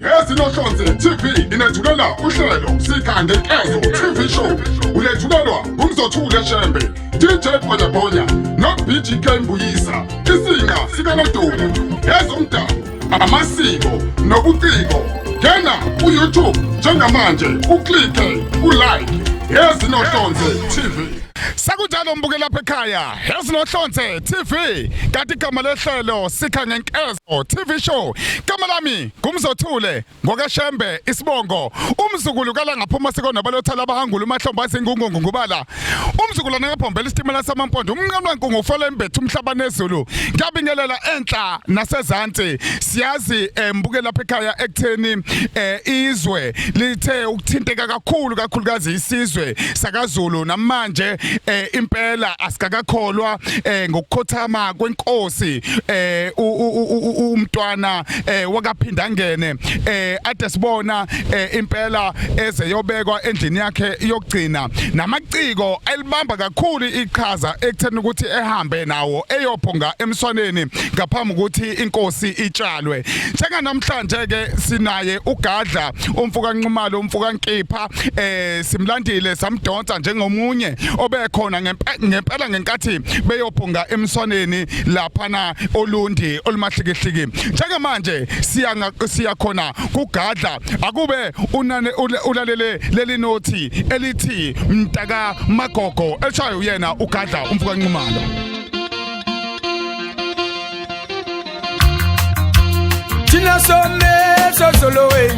Ezinohlonze TV inethulela uhlelo Sika Ngenkezo TV Show ulethulelwa nguMzothule Shembe DJ Bonya Bonya noBGK Mbuyisa isinga sikaNodumo ezomdabu amasiko nobuciko ngena ku-youtube njengamanje uklike ulike ezinohlonze tv sekunjalo mbuke lapha ekhaya ezinohlonze tv kanti igama lehlelo sikha ngenkeza Oh, TV show igama lami ngumzothule ngokashembe isibongo umzukulu kala ngaphuma sikonaba lothala abahangula umahlomba izingungungu ngubala umzukulwana ngabhombela isitimela samampondo umnqamla nkungu ufela embethe umhlaba nezulu ngiyabingelela enhla nasezantsi siyazi eh, mbuke lapha ekhaya ekutheni eh, izwe lithe ukuthinteka kakhulu kakhulukazi isizwe sakazulu namanje eh, impela asikakakholwa eh, ngokukhothama kwenkosi eh umntwana eh wakaphinda ngene eh ade sibona eh, impela eze yobekwa endlini yakhe yokugcina namaciko elibamba kakhulu iqhaza ekutheni ukuthi ehambe nawo eyophonga emswaneni ngaphambi ukuthi inkosi itshalwe njenganamhlanje ke sinaye ugadla umfuka nqumalo umfuka nkipha eh simlandile samdonsa njengomunye obekhona ngempela ngenkathi beyophonga emswaneni laphana olundi olumahlikihliki njengamanje siya siya khona kugadla akube unane ulalele leli nothi elithi mntaka magogo eshayo uyena ugadla umfuka nqumalo Thina somesa soloweni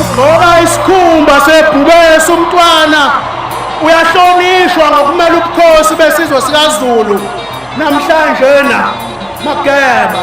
ugqoka isikhumba sebhubesi umntwana uyahlonishwa ngokumela ubukhosi besizwe sikazulu namhlanje na mageba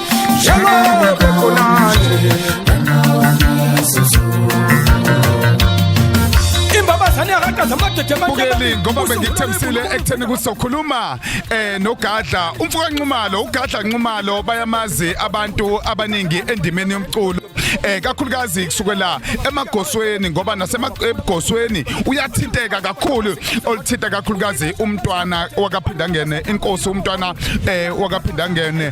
njengoba khona nje imbabazane yakaqaza amadede bukeli ngoba bengikuthembisile ekutheni ukuthi sokhuluma eh nogadla umfoka nxumalo ugadla nxumalo bayamazi abantu abaningi endimeni yomculo eh kakhulukazi kusukela emagosweni ngoba nasemagosweni uyathinteka kakhulu olithinta kakhulukazi umntwana wakaphindangene inkosi umntwana eh wakaphindangene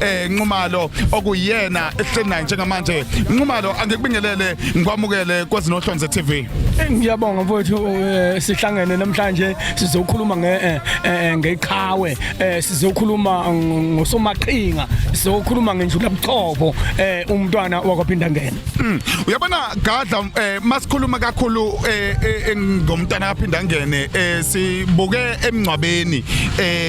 eh Nxumalo okuyena ehleli naye njengamanje Nxumalo angikubingelele ngikwamukele kwezinohlonze TV eh, ngiyabonga mfowethu eh, sihlangene namhlanje sizokhuluma nge eh, ngeqhawe sizokhuluma ngosomaqhinga sizokhuluma ngenjula buchopho umntwana wakwaphinda ngena hmm, uyabona gadla masikhuluma kakhulu ngomntwana kaphinda ngene sibuke emngcwabeni eh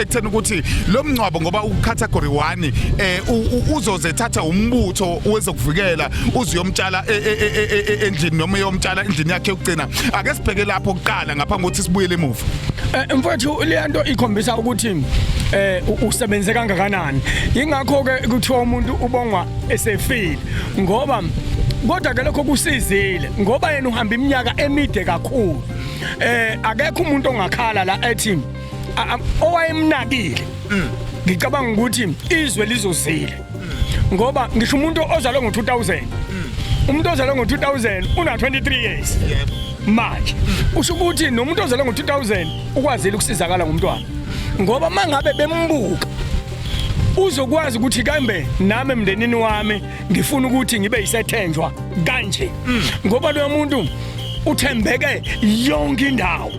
ekutheni ukuthi lo mngcwabo ngoba ucategory 1 eh uzoze thatha umbutho wezokuvikela uziyomtshala e, e, e, endlini noma yomtshala endlini yakhe yokugcina ake sibheke lapho kuqala ngaphambi kokuthi sibuyele emuva eh, mfowethu le nto ikhombisa ukuthi eh usebenze kangakanani ingakho ke kuthiwa umuntu ubongwa esefile ngoba kodwa ke lokho kusizile ngoba yena uhamba iminyaka emide kakhulu eh akekho umuntu ongakhala la ethi owayemnakile mm. ngicabanga ukuthi izwe lizozile mm. ngoba ngisho umuntu ozalwe ngo-2000 mm. umuntu ozalwe ngo-2000 una-23 years manje usho ukuthi nomuntu ozalwe ngo-2000 ukwazile ukusizakala ngomntwana ngoba uma ngabe bembuka uzokwazi ukuthi kambe nami emndenini wami ngifuna ukuthi ngibe yisethenjwa kanje ngoba loyo muntu uthembeke yonke indawo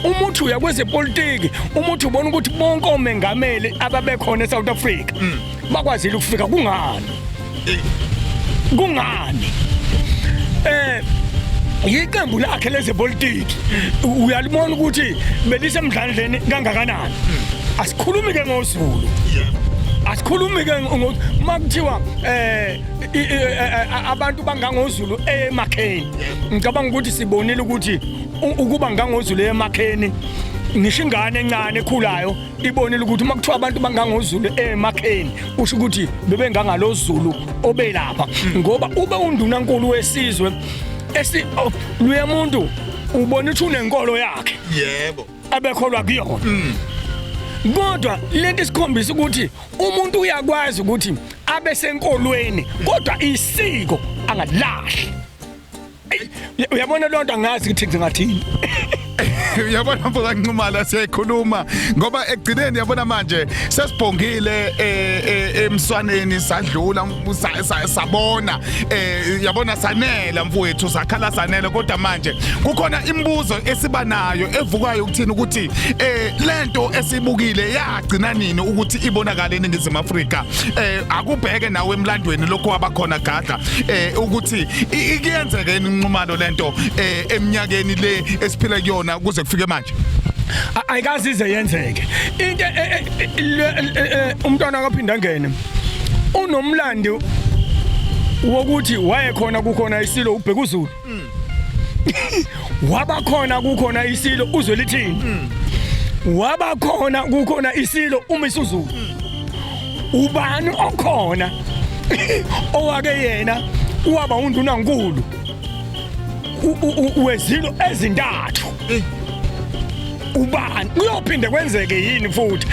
uma uthi uya kwezepolitiki uma uthi ubona ukuthi bonke omengameli ababekhona eSouth Africa mm. bakwazile ukufika kungani kungani eh yiqembu lakhe lezepolitiki uyalibona ukuthi belisemdlandleni kangakanani mm. asikhulumi ke ngozulu asikhulumi ke uma kuthiwa eh, eh, eh abantu bangangozulu emakheni ngicabanga ukuthi sibonile ukuthi ukuba ngangozulu emakheni ngisho ingane encane ekhulayo ibonile ukuthi uma kuthiwa abantu bangangozulu emakheni usho ukuthi bebengangalozulu obelapha hmm. ngoba ube undunankulu wesizwe esi oh, luya muntu ubona ukuthi unenkolo yakhe yebo abekholwa kuyona hmm. kodwa lento isikhombisa ukuthi umuntu uyakwazi ukuthi abe senkolweni kodwa isiko angalahli uyabona lonto angazi ukuthi ngingathini uyabona mfoka Nxumalo siyayikhuluma ngoba ekugcineni yabona manje sesibhongile eh, eh, emswaneni sadlula sabona eh, yabona sanela mfowethu sakhala sanela kodwa manje kukhona imibuzo esiba nayo evukayo ukuthini ukuthi lento esibukile ya gcina nini ukuthi ibonakale eningizimu afrika eh akubheke nawe emlandweni lokho wabakhona gadla eh ukuthi ikuyenzeke inqumalo lento eh eminyakeni le esiphila kuyona kuze kufike manje ayikazi ize yenzeke into umntwana akaphinda ngene unomlandi wokuthi wayekhona kukhona isilo ubhekuzulu mm. wabakhona kukhona isilo uzwe lithini mm. wabakhona kukhona isilo uma isuzulu mm. ubani okhona owake yena waba undunankulu wezilo ezintathu eh. ubani kuyophinde kwenzeke yini futhi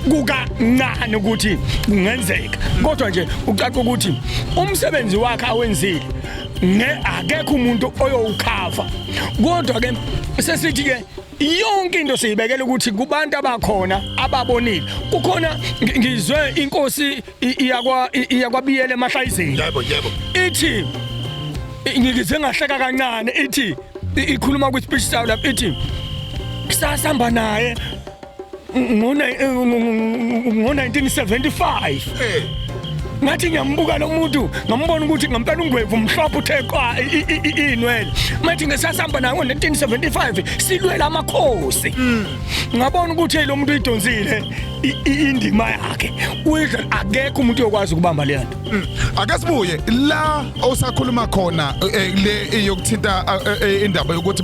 kukancane ukuthi kungenzeka kodwa nje ucaca ukuthi umsebenzi wakhe awenzile nge akekho umuntu oyowukhava kodwa ke sesithi ke yonke into siyibekela ukuthi kubantu abakhona ababonile kukhona ngizwe inkosi iyakwa iyakwabiyele emahlayizeni yebo yebo ithi ngikize ngahleka kancane ithi ikhuluma kwi speech saw lapha ithi sasihamba naye ngo-1975 ngathi ngiyambuka lo muntu ngambona ukuthi ngampela ungwevu mhlophe uthe qwa inwele mathi ngesasihamba naye ngo-1975 silwela amakhosi mm. ngabona ukuthi lo muntu uyidonsile indima yakhe uyidla akekho umuntu uyokwazi ukubamba le nto mm. ake sibuye la osakhuluma khona eh, le yokuthinta eh, eh, indaba yokuthi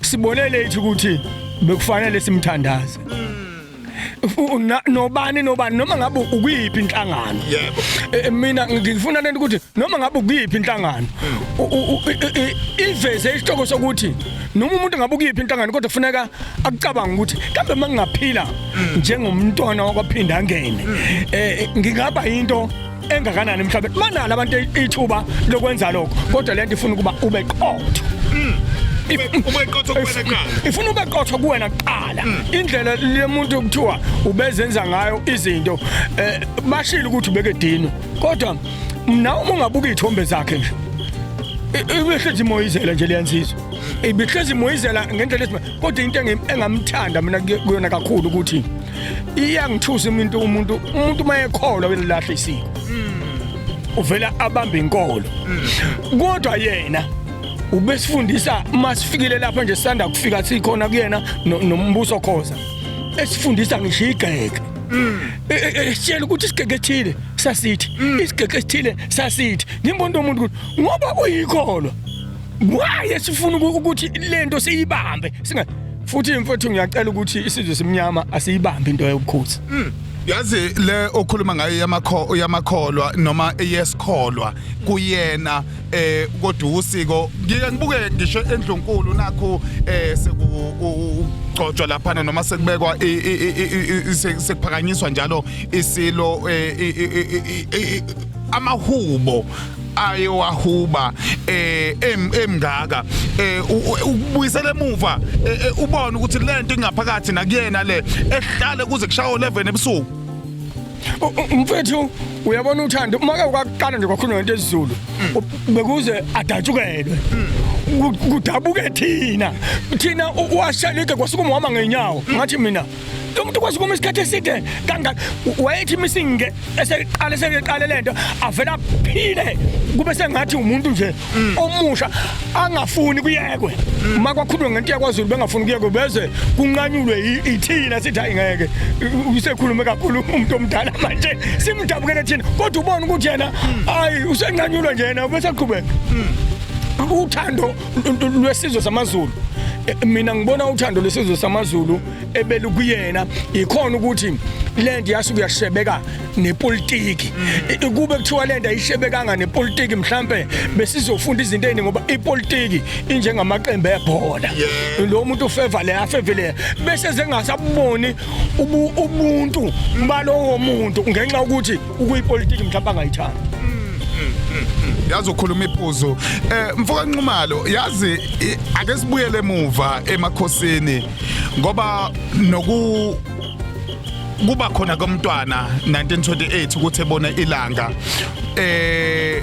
Sibone late ukuthi bekufanele simthandaze. nobani nobani noma ngabe ukuyiphi inhlangano yebo e, e, mina ngifuna lento ukuthi noma ngabe ukuyiphi inhlangano iveze isihloko sokuthi noma umuntu ngabe ukuyiphi inhlangano kodwa kufuneka akucabanga ukuthi kambe mangingaphila mm. njengomntwana wakwaphinda angene mm. eh ngingaba into engakanani emhlabeni manala abantu ithuba lokwenza lokho kodwa lento ifuna ukuba ube qotho mm. ube qotho kuwena kuqala ifuna ube qotho kuwena kuqala mm. indlela lemuntu kuthiwa ubezenza ngayo izinto eh, bashile ukuthi ubeke dino kodwa mina uma ungabuka izithombe zakhe nje ibihlezi imoyizela nje liyansizwa ibihlezi imoyizela ngendlela kodwa into engamthanda mina kuyona kakhulu ukuthi iyangithusa umuntu umuntu umuntu mayekholwa uyalahle isiko uvela abambe inkolo kodwa yena ubesifundisa masifikile lapha nje sanda kufika sikhona kuyena no- nombuso khoza esifundisa ngisho igeke E- e- esitshela ukuthi isigeke esithile sasithi isigeke esithile sasithi ngimbona umuntu ukuthi ngoba uyikholwa why esifuna uku- ukuthi lento siyibambe singa futhi mfowethu ngiyacela ukuthi isizwe simnyama asiyibambi into yobukhosi mm. yazi le okhuluma ngayo yamakho yamakholwa noma eyesikholwa kuyena eh kodwa usiko ngike ngibuke ngisho endlunkulu nakho eh seku kugcotshwa laphana noma sekubekwa sekuphakanyiswa njalo isilo eh, amahubo aye wahuba eh emngaka eh ukubuyisela emuva eh, eh, ubone ukuthi lento ingaphakathi nakuyena le ehlale kuze kushaye 11 ebusuku mfethu uyabona uthando uma ke ukakuqala nje kwakhuluma ngento esiZulu mm. bekuze adatshukelwe mm. kudabuke thina thina washalike kwasuka umama ngenyawo ngathi mina lo muntu ukwazi ukuma isikhathi eside kangaka wayethi imisinge eseqale sekeqale lento avela phile kube sengathi umuntu nje mm. omusha angafuni kuyekwe mm. uma kwakhulunywa ngento yakwaZulu bengafuni kuyekwe beze kunqanyulwe ithina sithi hayi ngeke usekhulume kakhulu umuntu omdala manje simdabukele thina kodwa ubona ukuthi yena mm. hayi usenqanyulwa nje yena bese qhubeka uthando lwesizwe samaZulu eh, mina ngibona uthando lwesizwe samaZulu ebelu kuyena ikhona ukuthi lento yasuke yashebeka nepolitiki mm. kube kuthiwa lento ayishebekanga nepolitiki mhlambe besizofunda izinto eziningi ngoba ipolitiki injengamaqembu ebhola lo muntu ufeva le afeve le bese zengasaboni ubuntu balowo muntu ngenxa ukuthi ukuyipolitiki mhlawumbe angayithandi yazi ukhuluma iphuzu eh mfoka Nxumalo yazi i- ake sibuyele emuva emakhosini ngoba noku kuba khona komntwana 1928 ukuthi ebone ilanga eh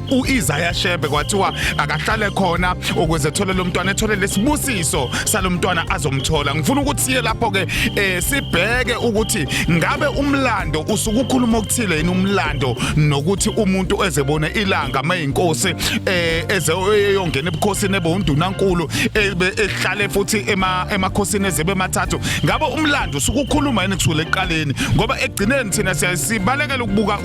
uIsaiah Shebe kwathiwa akahlale khona ukuze ethole lo mntwana ethole lesibusiso salomntwana azomthola ngifuna ukuthi siye lapho ke eh sibheke ukuthi ngabe umlando usukukhuluma okuthile yini umlando nokuthi umuntu ezebone ilanga mayinkosi eh ezeyongena ebukhosini ebe undunankulu ebe ehlale futhi ema emakhosini ezebe mathathu ngabe umlando usukukhuluma yini kusukela eqaleni ngoba egcineni thina siyabalekela ukubuka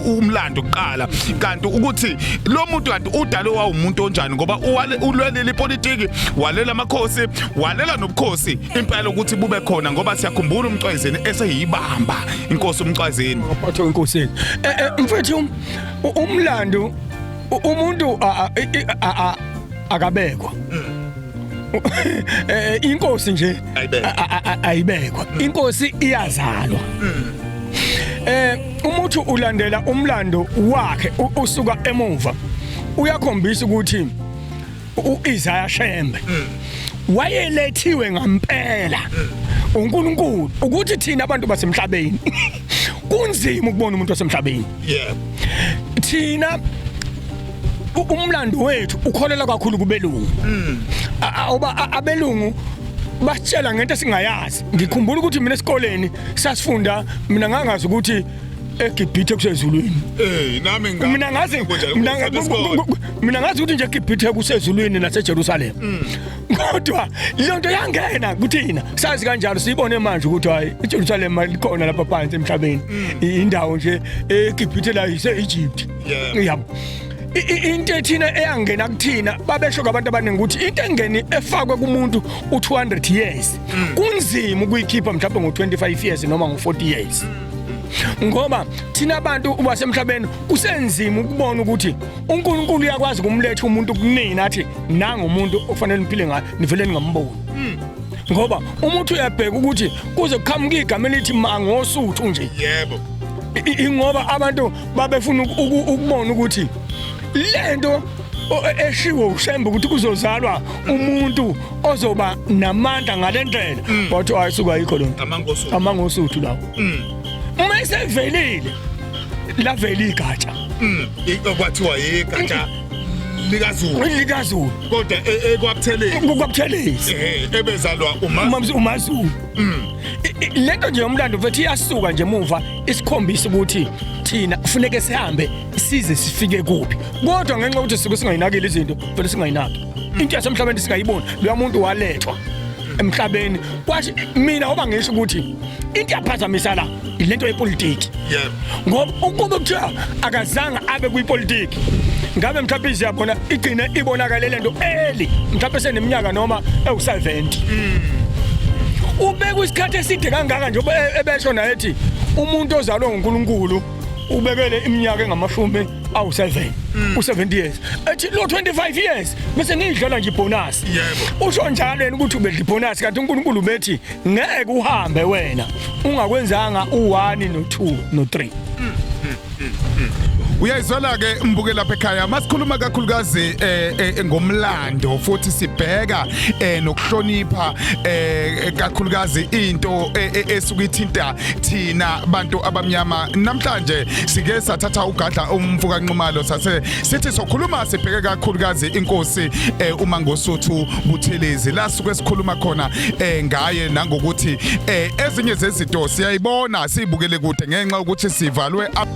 umlando kuqala okokuqala kanti ukuthi lo muntu kanti udale wawumuntu onjani ngoba ulwelile ipolitiki walela amakhosi walela nobukhosi impela ukuthi bube khona ngoba siyakhumbula umcwayizeni eseyibamba inkosi umcwayizeni waphathwa inkosi e, e, mfethu umlando umuntu akabekwa eh inkosi nje ayibekwa inkosi iyazalwa mm. eh uma uthi ulandela umlando wakhe usuka emuva uyakhombisa ukuthi uIsaiah Shembe mm. wayelethiwe ngampela mm. uNkulunkulu ukuthi thina abantu basemhlabeni kunzima ukubona umuntu wasemhlabeni yeah thina umlando wethu ukholela kakhulu kubelungu mm. awuba abelungu basitshela ngento esingayazi ngikhumbula ukuthi mina esikoleni sasifunda mina ngangazi ukuthi egibhithe kusezulwini eh nami ngika mina ngazi mina ngazi ukuthi nje egibhithe kusezulwini naseJerusalem mm. kodwa leyo nto yangena kuthina sazi kanjalo siyibone manje ukuthi hayi iJerusalem likhona lapha phansi emhlabeni mm. indawo nje egibhithe la ise-Egypt yabo into ethina eyangena kuthina babesho kwabantu abaningi ukuthi into engeni efakwe kumuntu u200 years mm. kunzima ukuyikhipha mhlawumbe ngo-25 years noma ngo-40 years ngoba thina abantu ubasemhlabeni kusenzima ukubona ukuthi uNkulunkulu uyakwazi kumletha umuntu kunina athi nanga umuntu okufanele niphile ngayo nivele ningamboni hmm. ngoba umuntu uyabheka ukuthi kuze kuqhamuka igama elithi mangosuthu nje yebo ingoba abantu babefuna ukubona ukuthi lento eshiwo ushembe ukuthi kuzozalwa umuntu ozoba namandla ngalendlela mm. wathi ayisuka ayikho lonto amangosuthu amangosuthu lawo mm. uma isevelile laveli igatsha mm. kwathiwa yigatsha likazulu likazulu kodwa e, ekwabutheleni kukwabuthelezi eh, ebezalwa umazulu umazulu lento nje yomlando mfethu iyasuka nje muva isikhombisa ukuthi thina kufuneke sihambe size sifike kuphi kodwa ngenxa ukuthi sike singayinakile izinto vele singayinaki into yasemhlabeni singayiboni loya muntu walethwa emhlabeni kwasho mina oba ngisho ukuthi into yaphazamisa la ilento yepolitiki yebo ngoba ukube kuthiwa akazange abe kwipolitiki ngabe mhlawumbe iziyabona igcine ibonakale lento eli mhlawumbe seneminyaka noma ewu70 mm. ubeka isikhathi eside kangaka nje e-, ebesho naye ethi umuntu ozalwe nguNkulunkulu ubekele iminyaka engamashumi awu-7 mm. u-70 years ethi lo 25 years bese ngiyidlala nje ibhonasi usho njalo yena ukuthi ubedla ibhonasi kanti unkulunkulu bethi ngeke uhambe wena ungakwenzanga u-1 no-2 no-3 uyayizwela ke mbuke lapha ekhaya masikhuluma kakhulukazi eh, eh ngomlando futhi sibheka eh nokuhlonipha eh kakhulukazi into eh, eh, esuke ithinta thina bantu abamnyama namhlanje sike sathatha ugadla umfuka Nxumalo sase sithi sokhuluma sibheke kakhulukazi inkosi eh, uma ngosuthu Buthelezi la suke sikhuluma khona eh, ngaye nangokuthi eh, ezinye zezinto siyayibona sibukele kude ngenxa ukuthi sivalwe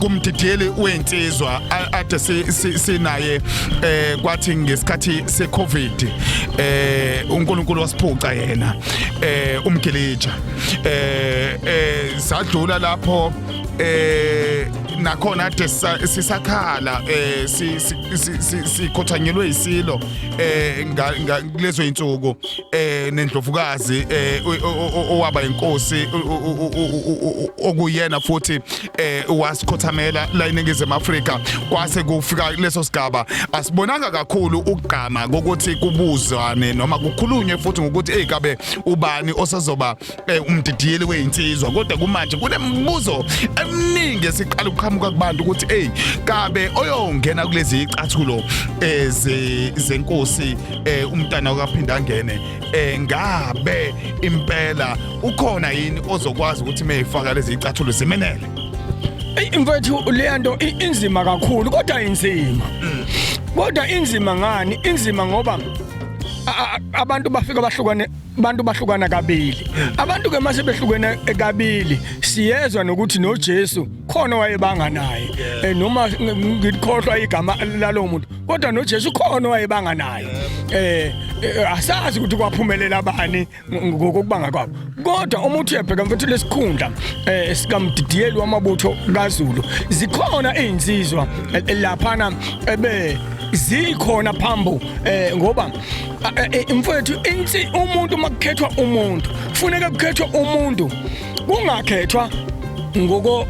kumdidiyeli wensizwa ade sinaye eh kwathi ngesikhathi secovid eh uNkulunkulu wasiphuca yena eh umgilija eh, eh sadlula lapho eh nakhona ade sisakhala eh sikhothanyelwe isilo eh lezo insuku eh nendlovukazi eh owaba inkosi okuyena futhi eh wasikhothamela la iningizimu Afrika kwase kufika leso sigaba asibonanga kakhulu ukugqama ukuthi kubuzwane noma kukhulunywe futhi ngokuthi hey kabe ubani osazoba eh, umdidiyeli weyinsizwa kodwa kumanje kunemibuzo eminingi esiqala ukuqhamuka kubantu ukuthi hey kabe oyongena kulezi icathulo eh, ze- zenkosi eh, umntana okaphinda angene eh, ngabe impela ukhona yini ozokwazi ukuthi meyifaka lezi icathulo zimenele Eyi mfethu leya nto i- inzima kakhulu kodwa inzima kodwa inzima ngani inzima ngoba a- a- abantu bafika bahlukane abantu bahlukana kabili abantu ke mase behlukene kabili siyezwa nokuthi noJesu khona wayebanga naye eh, noma ngikhohlwa igama lalo muntu kodwa noJesu khona wayebanga naye eh, eh asazi ukuthi kwaphumelela bani ngokubanga kwabo kodwa uma uthi uyabheka mfethu lesikhundla eh sikamdidiyeli wamabutho kaZulu zikhona izinsizwa eh, laphana ebe zikhona phambo eh ngoba mfowethu insi umuntu makukhethwa umuntu kufuneka kukhethwa umuntu kungakhethwa ngoko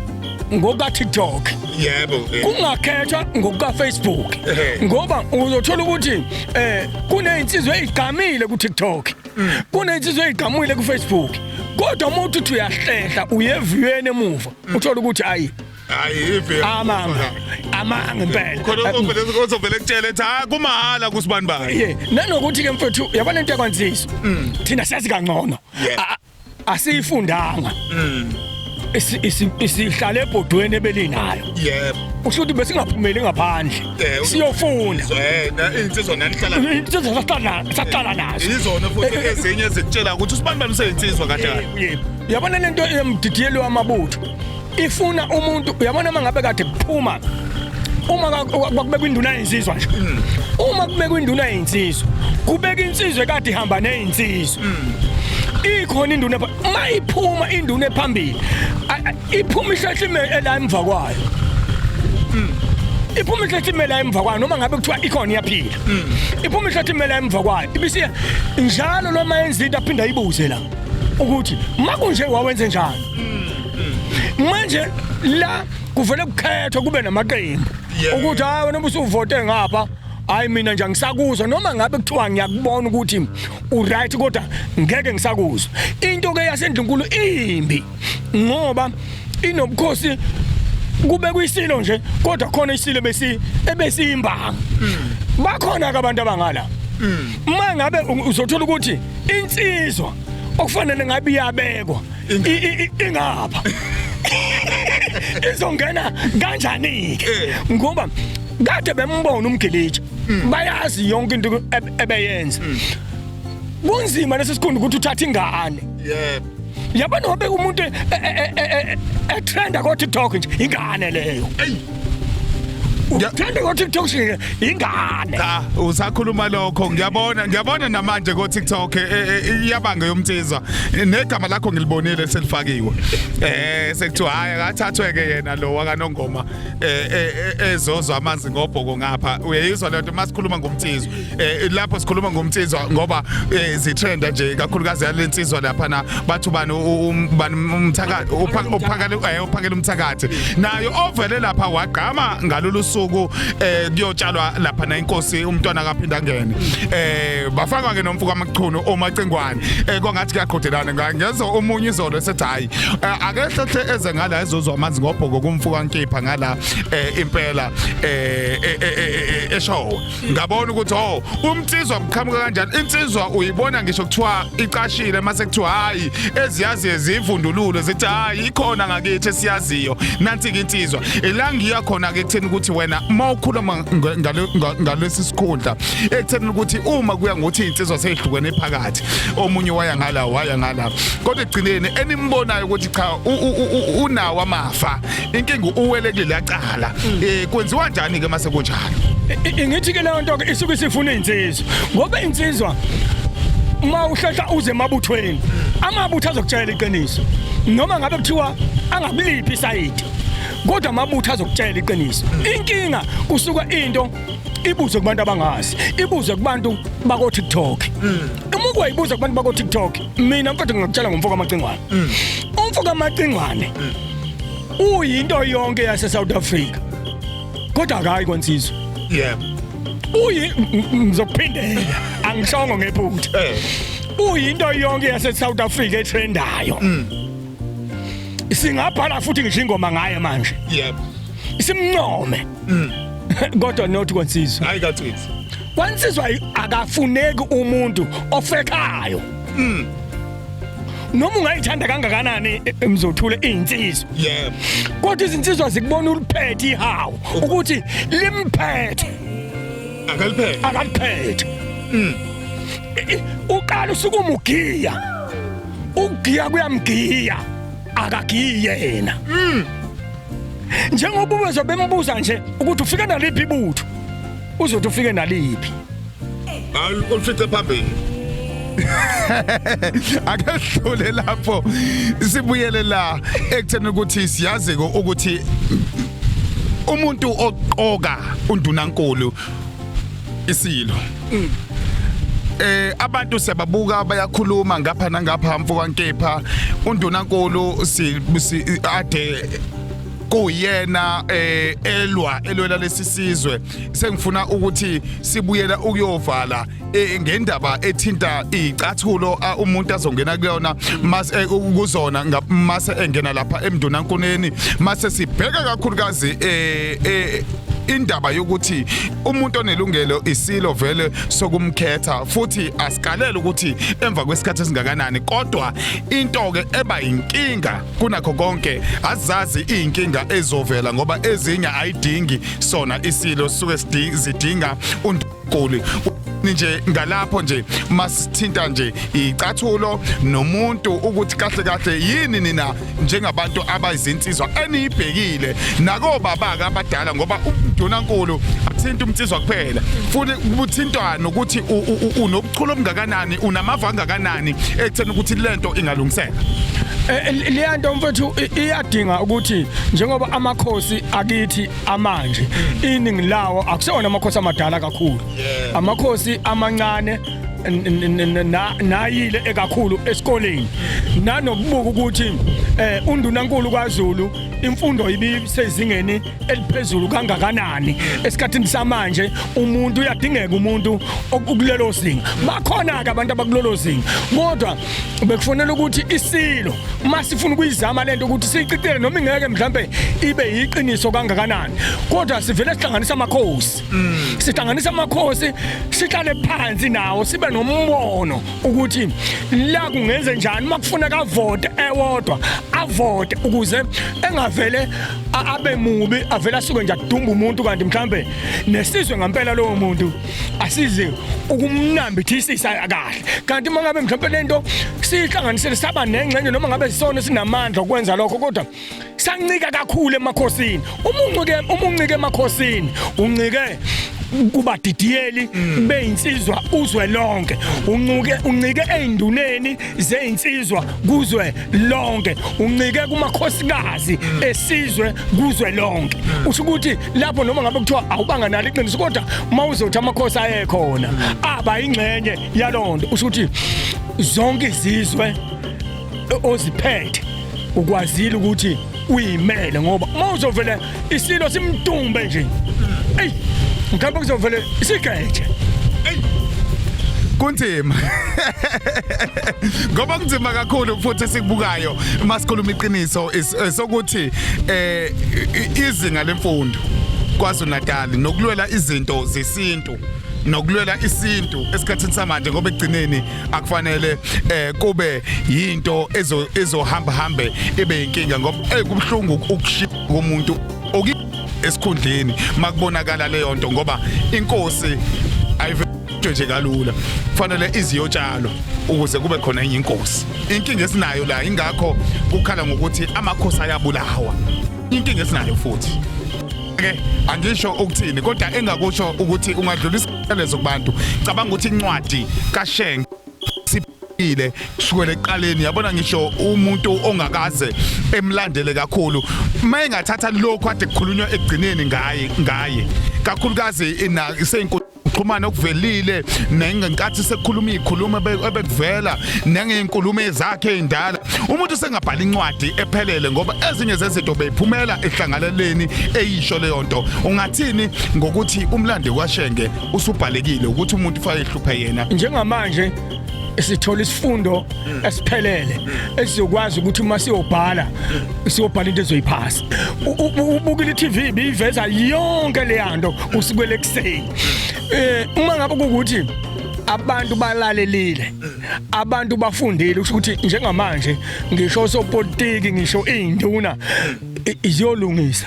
ngoka TikTok yebo kungakhethwa ngoka Facebook ngoba uzothola ukuthi eh kunezinsizwa ezigqamile ku TikTok mm. kunezinsizwa ezigqamile ku Facebook kodwa umuntu uthi uyahlehla uyeviweni emuva mm. uthola ukuthi ayi Ayive. Amanga. Amanga impela. Khona uvele uzovele kutshela ethi ha kumahhala kusibani bani. Yeah. Nanokuthi ke mfethu yabona into yakwanzisa. Mm. Thina siyazi kangcono. Asiyifundanga. Mm. isihlale ebhodweni ebelinayo yebo usho ukuthi besingaphumeli ngaphandle siyofunda insizwa nanihlala insizwa saqala nazo izona futhi eh, eh, ezinye zikutshela ukuthi usibani bani useyinsizwa kahle yabona lento emdidiyelwe amabutho ifuna umuntu uyabona uma ngabe kade kuphuma uma kwakubekwa induna yensizwa nje mm. uma kubekwa induna yensizwa kubeka insizwe kade ihamba nezinsizwa mm. ikhona induna mayiphuma induna ephambili iphuma ihlahlime ela emva kwayo mm. iphuma ihlathi imela emva kwayo noma ngabe kuthiwa ikhona iyaphila iphuma ihlathi imela emva kwayo ibisiya njalo lo mayenza into aphinda ibuze la ukuthi makunje wawenze njani manje la kuvele kukhethwa kube namaqembu ukuthi hayi wena ubusuvote ngapha hayi mina nje angisakuzwa noma ngabe kuthiwa ngiyakubona ukuthi uright kodwa ngeke ngisakuzwa into ke yasendlunkulu imbi ngoba inobukhosi kube kuyisilo nje kodwa khona isilo besi ebesiyimbanga hmm. bakhona ke abantu abangala hmm. uma ngabe uzothola ukuthi insizwa okufanele ngabe iyabekwa ingapha izongena kanjani ke eh. ngoba kade bembona umgilitsha hmm. bayazi yonke into ebeyenza hmm. kunzima lesi sikhundu ukuthi uthathe ingane yebo yabona wabe umuntu etrenda e, e, e, ko TikTok nje ingane leyo uthanda ukuthi TikTok shile ingane cha usakhuluma lokho ngiyabona ngiyabona namanje ko TikTok eh, eh, eh, iyabanga yomthiza negama lakho ngilibonile selifakiwe eh sekuthiwa hayi akathathwe ke yena lo wakanongoma ezozwa amanzi ngobhoko ngapha uyeyizwa lento masikhuluma ngomthizo eh lapho sikhuluma ngomtsizwa ngoba eh, zithenda nje kakhulukazi yalensizwa lapha na bathu bani umthakathi uphakele eh, uphakele umthakathi nayo ovele lapha wagqama ngalolu suku eh kuyotshalwa lapha na inkosi umntwana kaphinda ngene eh bafakwa ke nomfuka amachunu omacingwane eh kwangathi kuyaqhudelana ngezo umunye izolo esethi hayi eh, akehlehle eze ngala ezozwa amanzi ngobhoko kumfuka nkipha ngala eh, impela eh eshowe ngabona ukuthi oh umnsizwa kuqhamuka kanjani insizwa uyibona ngisho kuthiwa icashile mase kuthiwa hayi eziyazi ezivundululo zithi hayi ikhona ngakithi esiyaziyo nansi ke insizwa elangiya khona ke kutheni ukuthi wena uma ukhuluma ngalesi sikhundla ekutheni ukuthi uma kuya ngokuthi insizwa seyihlukene phakathi omunye waya ngala waya ngala kodwa egcineni enimbonayo ukuthi cha unawo amafa inkinga uwele kuleli acala um mm. kwenziwa njani ke mase kunjalo ingithi ke leyo nto ke isuke isifuna insizwa ngoba insizwa uma uhlehla uze emabuthweni amabutho azokutshela iqiniso noma ngabe kuthiwa angakuliphi isayidi kodwa amabutho azokutshela iqiniso inkinga kusuka into ibuze kubantu abangazi ibuze kubantu bako TikTok hmm. uma ukuyibuza kubantu bako TikTok mina mfethu ngingakutshela ngomfo kamacingwane mm. umfo kamacingwane mm. uyinto yonke yase South Africa kodwa akayi kwansizwe yebo uyi ngizophindela angishongo ngephutha eh. uyinto yonke yase South Africa etrendayo mm. singabhala futhi ngisho ingoma ngaye manje yebo simncome kodwa not kwansizwe hayi kacithi kwansizwa akafuneki umuntu ofekayo mm. noma ungayithanda kangakanani e, e, mzothule izinsizwa yebo kodwa izinsizwa zikubona uliphethe ihawu ukuthi limphethe akaliphethe akaliphethe mm. e, uqala usukumugiya ugiya kuyamgiya akagiyi yena mm. njengoba ubezo bembuza nje ukuthi ufika naliphi ibutho uzothi ufike naliphi olufice phambili ake sidlule lapho sibuyele la ekutheni ukuthi siyazi ukuthi umuntu oqoka undunankulu isilo mm. eh abantu siyababuka bayakhuluma ngapha nangapha mfokankepha undunankulu si ade kuyena eh elwa elwela lesisizwe sengifuna ukuthi sibuyela ukuyovala eh, ngendaba ethinta icathulo ah, umuntu azongena kuyona mase eh, kuzona nga- mase engena lapha emndunankuneni mase sibheka kakhulukazi eh eh, indaba yokuthi umuntu onelungelo isilo vele sokumkhetha futhi asikalele ukuthi emva kwesikhathi esingakanani kodwa into ke eba inkinga kunakho konke azazi inkinga ezovela ngoba ezinye ayidingi sona isilo suke zidinga uNdukulu nje ngalapho nje masithinta nje icathulo nomuntu ukuthi kahle kahle yini nina njengabantu abayizinsizwa eniyibhekile nako baba abadala ngoba udunankulu athinta umnsizwa kuphela futhi kuthintwa nokuthi ubuchule obungakanani unamava angakanani ekutheni ukuthi lento ingalungiseka Eh, leya nto mfethu i- iyadinga ukuthi njengoba amakhosi akithi amanje iningi lawo akusona amakhosi amadala kakhulu amakhosi amancane n- n- n- na- nayile ekakhulu esikoleni nanokubuka ukuthi eh undunankulu kwaZulu imfundo ibisezingeni eliphezulu kangakanani esikhathini samanje umuntu uyadingeka umuntu okulelo zinga bakhona ke abantu abakulelo zinga kodwa bekufanele ukuthi isilo uma sifuna ukuyizama lento ukuthi siyiqitele noma ingeke mhlambe ibe yiqiniso kangakanani kodwa sivele sihlanganisa amakhosi mm. sihlanganisa amakhosi sihlale phansi nawo sibe nombono ukuthi la kungenze njani uma kufuna kavote ewodwa avote ukuze engavele abe mubi avele asuke nje adumba umuntu kanti mhlambe nesizwe ngempela lowo muntu asizi ukumnambithisisa kahle kanti uma ngabe mhlawumbe lento sihlanganisele saba nengxenye noma ngabe sisona sinamandla okwenza lokho kodwa sancika kakhulu emakhosini uma uncike uma uncike emakhosini uncike kubadidiyeli mm. beyinsizwa uzwe lonke uncuke uncike ezinduneni zeyinsizwa kuzwe lonke uncike kumakhosikazi esizwe kuzwe lonke usho ukuthi lapho noma ngabe kuthiwa awubanga nalo iqiniso kodwa uma uzothi amakhosi ayekhona aba ingxenye yalonto usho ukuthi zonke izizwe oziphethe ukwazile ukuthi uyimele ngoba uma uzovele isilo simdumbe nje eyi mkhambe kuzovele sigeje kunzima ngoba kunzima kakhulu futhi esikubukayo masikhuluma iqiniso eh, sokuthi eh izinga lemfundo kwaZulu Natal nokulwela izinto zesintu nokulwela isintu esikhathini samanje ngoba ekugcineni akufanele eh kube yinto ezo ezohamba hambe ibe inkinga ngoba eh kubhlungu ukushiya komuntu oki esikhundleni makubonakala leyo nto ngoba inkosi ayive into nje kalula kufanele iziyotshalwa ukuze kube khona enye inkosi inkinga esinayo la ingakho kukhala ngokuthi amakhosi ayabulawa inkinga esinayo futhi ke angisho ukuthini kodwa engakusho ukuthi ungadlulisa lezo kubantu cabanga ukuthi incwadi kasheng siphile kusukela eqaleni yabona ngisho umuntu ongakaze emlandele kakhulu mayengathatha lokho ade kukhulunywa ekugcineni ngaye ngaye kakhulukazi ina isenkulu ukuxhumana okuvelile nengenkathi sekukhuluma izikhuluma ebekuvela nengezinkulumo ezakhe indala umuntu sengabhala incwadi ephelele ngoba ezinye zezinto beyiphumela ehlanganeleni eyisho leyo nto ungathini ngokuthi umlandi kwashenge usubhalekile ukuthi umuntu ufanele ehluphe yena njengamanje sithola isifundo esiphelele esizokwazi ukuthi uma siyobhala siyobhala into ezoyiphasa ubukile iTV biyiveza yonke leyanto usukwele kuseni eh uma ngabe ukuthi abantu balalelile abantu bafundile ukuthi njengamanje ngisho sopolitiki ngisho izinduna iziyolungisa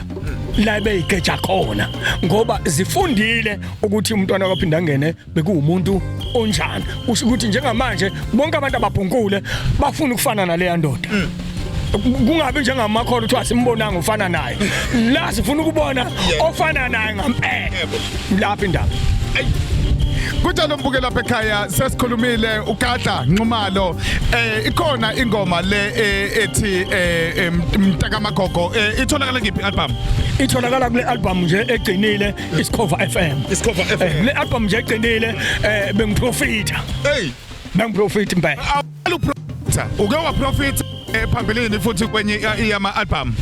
la beyigeja khona ngoba zifundile ukuthi umntwana kwaphinda ngene bekuwumuntu onjani usho ukuthi njengamanje bonke abantu ababhunkule bafuna ukufana naleya ndoda kungabi njengamakhono kuthiwa simbonanga ufana naye la sifuna ukubona ofana naye ngampela lapha indaba kunjalo mbuke lapha ekhaya sesikhulumile ugadla nxumalo eh ikhona ingoma le eh, ethi eh, eh, mtaka magogo itholakala kiphi album itholakala kule album nje egcinile isikhova FM isikhova FM le album nje egcinile eh bengiprofita hey bengiprofita impela uke waprofitha eh, phambilini futhi kwenye iyama album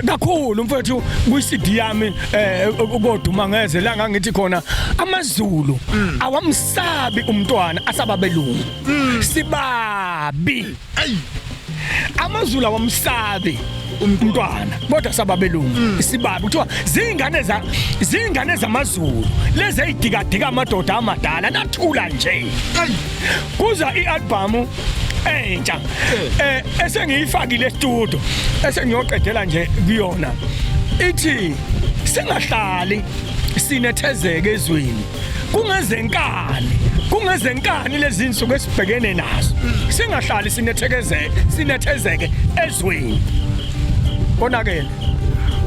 kakhulu mfethu kwi-CD yami eh koduma ngeze la ngangithi khona amaZulu mm. awamsabi umntwana asaba belungu mm. sibabi amaZulu awamsabi umntwana kodwa sababelungu mm. isibabi kuthiwa zingane za zingane zamazulu lezi eyidikadika amadoda amadala nathula nje kuza i-albhamu entsha eh esengiyifakile estudio esengiyoqedela nje kuyona ithi singahlali sinethezeke ezweni kungezenkani kungezenkani lezi nsuku esibhekene nazo singahlali sinethezeke sinethezeke ezweni konakele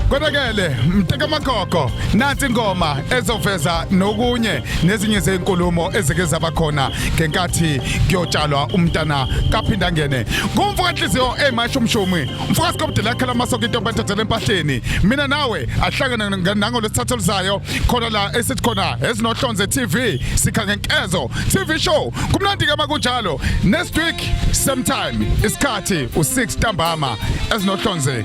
konakele mteka makhokho nansi ingoma ezoveza nokunye nezinye zezinkulumo ezike zaba khona ngenkathi kuyotshalwa umntana kaphinda ngene kumfuka inhliziyo emasho umshumi umfuka sikobudela khala amasoko into bathathele empahleni mina nawe ahlangana nango lesithathu lizayo khona la esithi khona ezinohlonze TV sikha ngenkezo TV show kumnandi ke makunjalo next week same time isikhathi u6 ntambama ezinohlonze